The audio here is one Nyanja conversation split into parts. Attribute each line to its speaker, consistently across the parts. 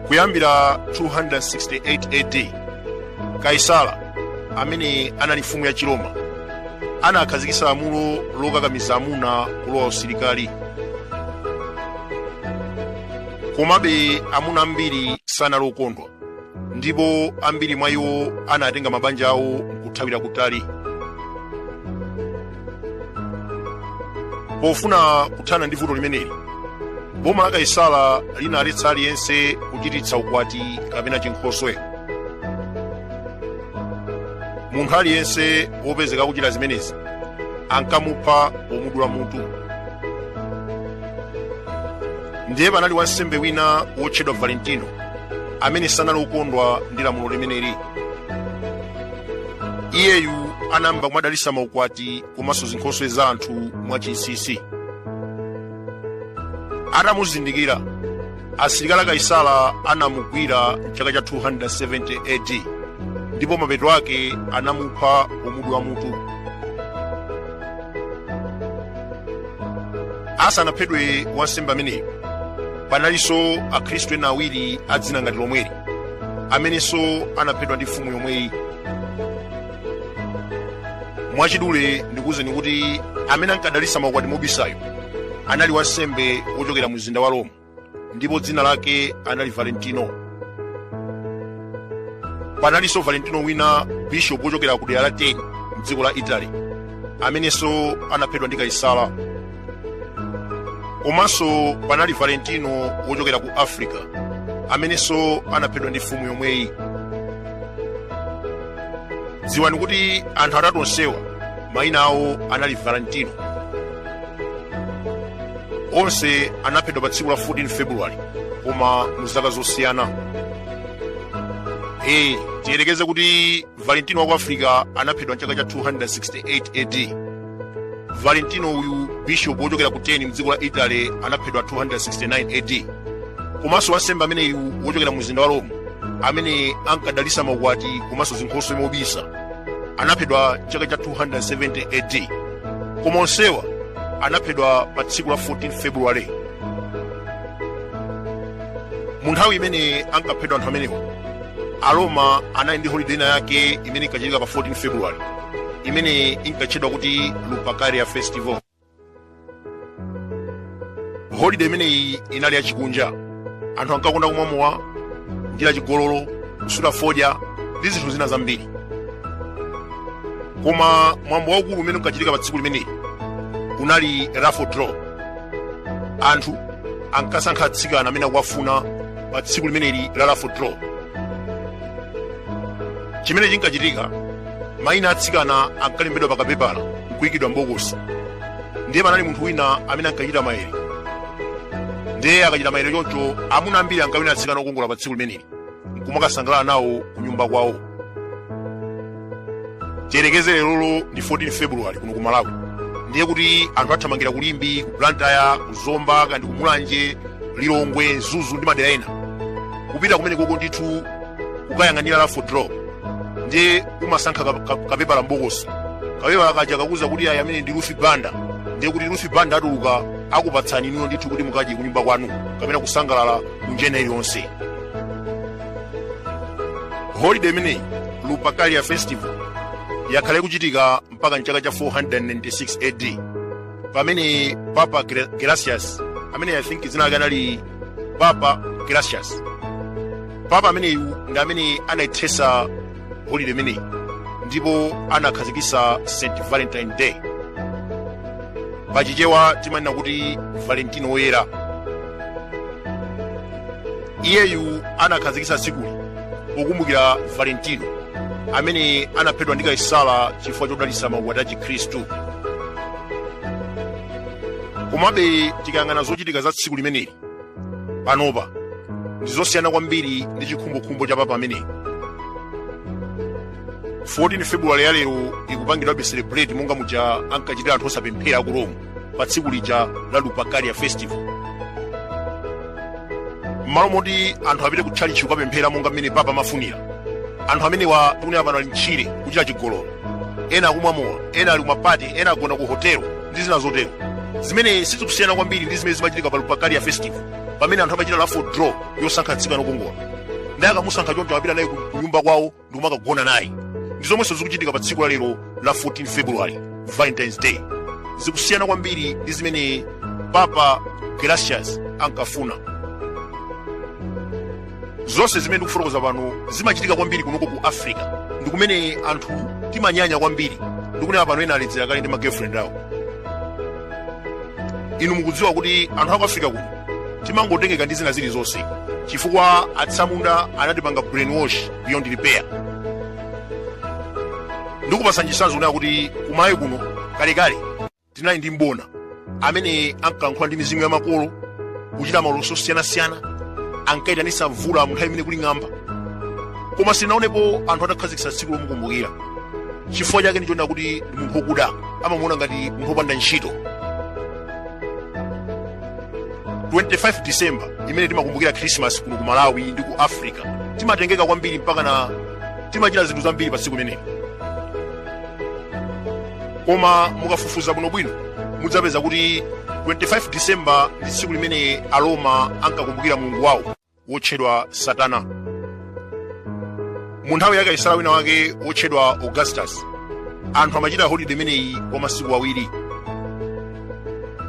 Speaker 1: kuyambira 268 AD kaisala amene anali mfumu ya chiroma anakhazikitsa lamulo lokakamiza amuna kulowa usilikali komabe amuna ambiri sanali okondwa ndipo ambiri mwa iwo anatenga mabanja awo nkuthawira kutali pofuna kuthana ndi vuto limeneli boma la kaisala linaletsa aliyense kuchititsa ukwati kapena chinkhoswe munthu aliyense wopezeka kuchita zimenezi ankamupha pomudula mutu ndiye panali wansembe wina wotchedwa valentino amene sanali wokondwa ndi lamulo limeneli iyeyu anayamba kumadalisa maukwati komanso zinkhoswe za anthu mwachinsinsi atamuzindikira asilikali a kaisala anamugwira mchaka cha 270 ad ndipo mapeto ake anamupha pomudula mutu asanaphedwe wansembe ameneyu panalinso akhristu ena awiri a dzina ngati lomweli amenenso anaphedwa ndi mfumu yomweyi mwachidule ndikuwuzeni kuti amene ankadalitsa maukwati mobisayo anali wansembe wochokera mu mzinda wa roma ndipo dzina lake anali valentino panalinso valentino wina bishopu wochokera ku dera la terni mdziko la italy amenenso anaphedwa ndi kaisala komanso panali valentino wochokera ku africa amenenso anaphedwa ndi mfumu yomweyi dziwani kuti anthu atatu onsewa mayina awo anali valentino onse anaphedwa pa tsiku la 14 february koma mu zaka zosiyana ee tiyerekeze kuti valentino wa ku africa anaphedwa mchaka cha 268 ad valentino uyu bishopu wochokera ku terni mdziko la italy anaphedwa 269 ad komanso wansembe ameneyu wochokera mu mzinda wa roma amene ankadalisa maukwati komanso zinkhoswe mobisa anaphedwa chaka cha 270 ad koma onsewa anaphedwa pa tsiku la 14 februwale mu nthawi imene ankaphedwa anthu amenewa aroma anali ndi holiday ina yake imene inkachitika pa 14 february imene inkatchedwa kuti lupercalia festival holiday imeneyi inali yachikunja anthu ankakonda kumwa mowa kuchita chigololo kusuta fodya ndi zinthu zina zambiri koma mwambo waukulu umene unkachitika pa tsiku limeneli unali raffle draw anthu ankasankha atsikana amene akuwafuna pa tsiku limeneli la raffle draw chimene chinkachitika mayina atsikana ankalembedwa pa kapepala nkuyikidwa m'bokosi ndiye panali munthu wina amene ankachita mayere ndiye akachita mayere choncho amuna ambiri ankawina atsikana okongola pa tsiku limeneli nkumakasangalala nawo kunyumba kwawo tiyerekeze lerolo ndi 14 february kuno ku malawi ndiye kuti anthu athamangira ku limbe ku blantyre ku zomba kaya ndi ku mulanje lilongwe mzuzu ndi madera ena kupita kumeneko ndithu kukayang'anira raffle draw ndiye kumasankha ka- ka- kapepala mbokosi kapepala kaja kakuuza kuti ayi amene ndi lufi banda ndiye kuti lufi banda atuluka akupatsani inuyo ndithu kuti mukadye kunyumba kwanu kapena kusangalala munjira iliyonse holiday imeneyi lupercalia festival yakhala ikuchitika mpaka mchaka cha 496 ad pamene papa Ge- gelasius amene i think dzina lake anali papa gelasius papa ameneyu ndi amene anaithesa holiday imeneyi ndipo anakhazikitsa st valentine day pachichewa timanena kuti valentino woyera iyeyu anakhazikitsa tsikuli pokumbukira valentino amene anaphedwa ndi kaisara chifukwa chodalitsa maukwati a chikhristu komabe tikayang'ana zochitika za tsiku limeneli panopa ndi zosiyana kwambiri ndi chikhumbokhumbo cha papa ameneyu 14 februwale ya lero ikupangidwabe celebrate monga muja ankachitira anthu osapemphera aku rome pa tsiku lija la lupercalia festival m'malo moti anthu apite ku tchalitchi kukapemphera monga mmene papa amafunira anthu amenewa tikunena pano ali mtchire kuchita chigololo ena akumwa mowa ena ali kumapati ena agona ku hotelo ndi zina zotero zimene sizikusiyana kwambiri ndi zimene zimachitika pa lupercalia festival pamene anthu amachita raffle draw yosankha mtsikana wokongola ndiye akamusankha choncho amapita naye ku nyumba kwawo ndikumakagona naye ndi zomwenso zikuchitika pa tsiku la lero la 14 february valentines day zikusiyana kwambiri ndi zimene papa gelasius ankafuna zonse zimene ndikufotokoza pano zimachitika kwambiri kunoko ku africa ndi kumene anthu timanyanya kwambiri ndikunena pano ena aledzera kale ndi magirlfriend awo inu mukudziwa kuti anthu aku africa kuno timangotengeka ndi zina zilizonse chifukwa atsamunda anatipanga brainwash beyond repair ndikupatsani chitsanzo muona kuti ku malawi kuno kalekale tinali ndi mbona amene ankalankhula ndi mizimu ya makolo kuchita maloso osiyanasiyana ankayitanisa mvula mu nthawi imene kuli ng'amba koma sindinaonepo anthu atakhazikitsa tsiku lomukumbukira chifukwa chake ndi chonena kuti ndi munthu wokuda amamuona ngati munthu wopanda ntchito 25 december imene timakumbukira khrisimasi kuno ku malawi ndi ku africa timatengeka kwambiri mpakana timachita zinthu zambiri pa tsiku limeneli koma mukafufuza bwinobwino mudzapeza kuti 25 december ndi tsiku limene aroma ankakumbukira mulungu wawo wotchedwa satana mu nthawi ya kaisala wina wake wotchedwa augustus anthu amachita holide imeneyi kwa masiku awiri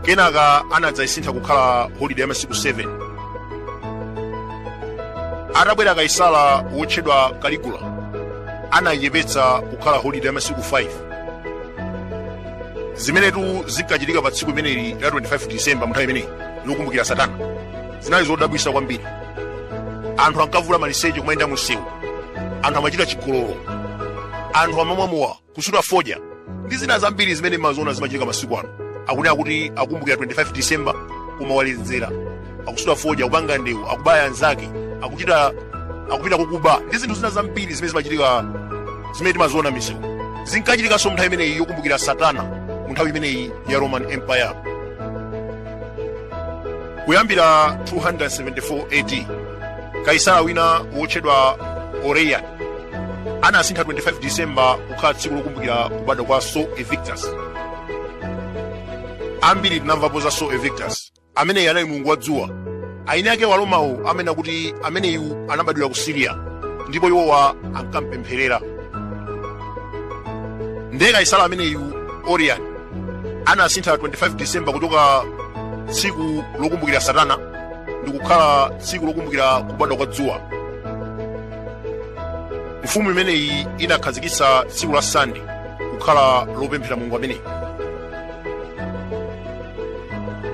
Speaker 1: kenaka anadzayisintha kukhala holide ya masiku 7 atabwera kaisala wotchedwa kaligula anayiyepetsa kukhala holide ya masiku 5 zimenetu zinkachitika pa tsiku imeneli la 25 disemba mu nthawi imeneyi yokumbukira satana zinali zodabwitsa kwambiri anthu ankavula maliseche kumayenda munsewu anthu amachita chigololo anthu amamwa mowa kusuta fodya ndi zina zambiri zimene mumaziona zimachitika masiku ano akanena kuti akumbukira 25 disemba kumaledzera akusuta fodya akupanga ndewu akubaya anzake akuchita akupita kukuba ndi zinthu zina zambiri zimene zimachitika zimene timaziona misewu zinkachitikanso mu nthawi imeneyi yokumbukira satana mu nthawi imeneyi ya roman empire kuyambira 274 AD kaisala wina wotchedwa Aurelian anasintha 25 December kukhala tsiku lokumbukira kubadwa kwa Sol Invictus ambiri tinamvapo za Sol Invictus ameneyi anali mulungu wa dzuwa eni ake aromawo amanena kuti ameneyu anabadwira ku siriya ndipo iwowa ankampempherera ndiye kaisala ameneyu aurelian anasintha 25 december kuchoka tsiku lokumbukira satana ndikukhala tsiku lokumbukira kubadwa kwa dzuwa mfumu imeneyi inakhazikitsa tsiku la sande kukhala lopemphera mulungu ameneyi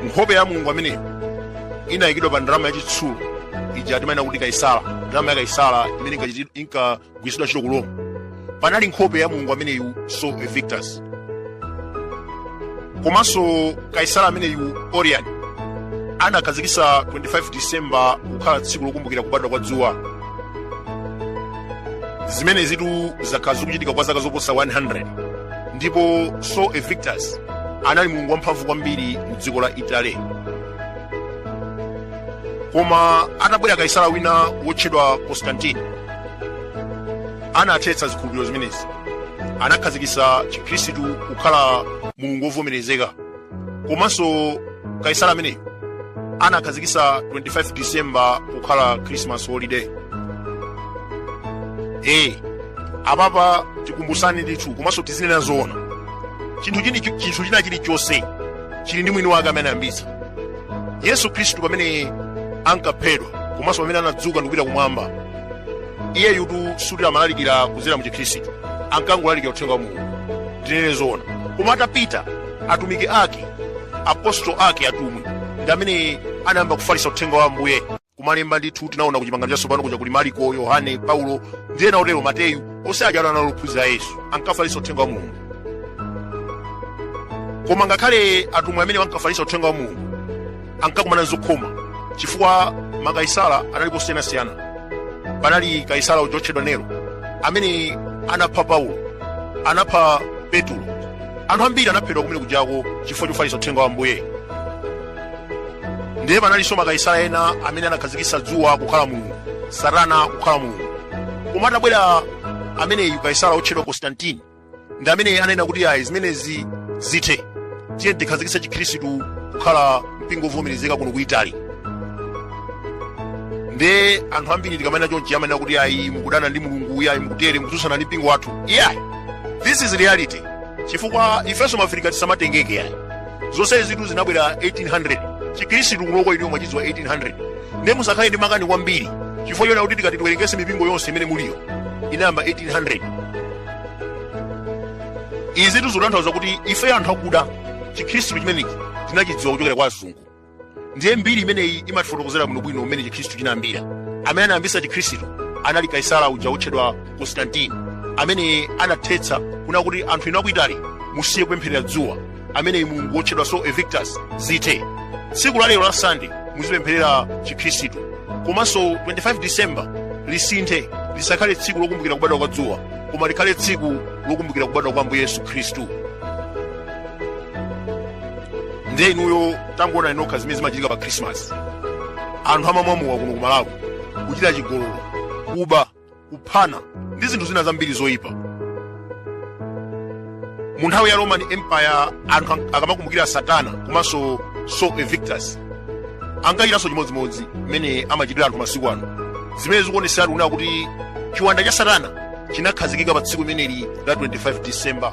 Speaker 1: nkhope ya mulungu ameneyi inayikidwa pa ndalama yachitsulo ija timanena kuti kaisala ndalama ya kaisala imene inkachiti- inkagwiritsidwa ntchito ku roma panali nkhope ya mulungu ameneyu sol invictus komanso kaisala ameneyu aurelian anakhazikitsa 25 disemba kukhala tsiku lokumbukira kubadwa kwa dzuwa zimenezitu zakhala zikuchitika kwa zaka zoposa 100 ndipo sol invictus anali mulungu wamphamvu kwambiri mu dziko la italy koma atabwera kaisala wina wotchedwa constantine anathetsa zikhulupiriro zimenezi anakhazikitsa chikhristu kukhala mulungu wovomerezeka komanso kaisala ameneyo anakhazikisa 25 december kukhala christmas holiday e apapa tikumbusane ndithu komanso tizinena zoona chinthu china chilichonse chili ndi mwini wake amene anayambitsa yesu khristu pamene ankaphedwa komanso pamene anadzuka ndikupita kumwamba iyeyutu sikuti amalalikira kudzera mu chikhristu ankangolalikira uthenga wa mulungu tinene zoona koma atapita atumiki ake apostolo ake atumwi ndi amene anayamba kufalitsa uthenga wa ambuye kumalemba ndithu tinaona ku chipangano chatsopano kuja kuli mariko yohane paulo ndi ena otero mateyu onse aja anali ophunzira a yesu ankafalitsa uthenga wa mulungu koma ngakhale atumwi amene ankafalitsa uthenga wa mulungu ankakumana nzokhoma chifukwa makaisala anali osiyanasiyana panali kaisala uja otchedwa nero amene anapha paulo anapha petulo anthu ambiri anaphedwa kumene kujako chifukwa chofalitsa uthenga wa ambuye ndiye panalinso makaisala ena amene anakhazikitsa dzuwa kukhala mulungu satana kukhala mulungu koma atabwera ameneyu kaisala otchedwa konstantini ndi amene anena kuti ayi zimenezi zithe tiyeni tikhazikitse chikhristu kukhala mpingo wovomerezeka kuno ku itali nde anthu ambiri tikamanena chonchi amanena kuti ayi mukudana ndi mulungu iyayi mukutere mukutsutsana ndi mpingo wathu iyayi this is reality chifukwa ifenso maafirika tisamatengeke ayi zonsezitu zinabwera 1800 chikhristu kunoko inuyo mwachidziwa 1800 nde musakhale ndi makani kwambiri chifukwa chonena kuti tikati tiwerengese mipingo yonse imene muliyo inayamba 1800 izitu zikutanthauza kuti ife anthu akuda chikhristu chimenechi tinachidziwa kuchokera kwa azungu ndiye mbiri imeneyi imatifotokozera bwinobwino mmene chikhristu chinayambira amene anayambisa chikhristu anali kaisala uja wotchedwa konstantini amene anathetsa kunena kuti anthu inu a ku itali musiye kupempherera dzuwa ameneyi mulungu wotchedwa sol invictus zithe tsiku la lero la sande muzipempherera chikhristu komanso 25 december lisinthe lisakhale tsiku lokumbukira kubadwa kwa dzuwa koma likhale tsiku lokumbukira kubadwa kwa ambuye yesu khristu ndiye inuyo tangoonani nokha zimene zimachitika pa khrisimasi anthu amamwa mowa kuno ku malawi kuchita chigololo kuba kuphana ndi zinthu zina zambiri zoyipa mu nthawi ya roman empire anthu akamakumbukira saturn komanso sol invictus ankachitanso chimodzimodzi mmene amachitira anthu masiku ano zimene zikuonetseratu kunena kuti chiwanda cha satana chinakhazikika pa tsiku limeneli la 25 december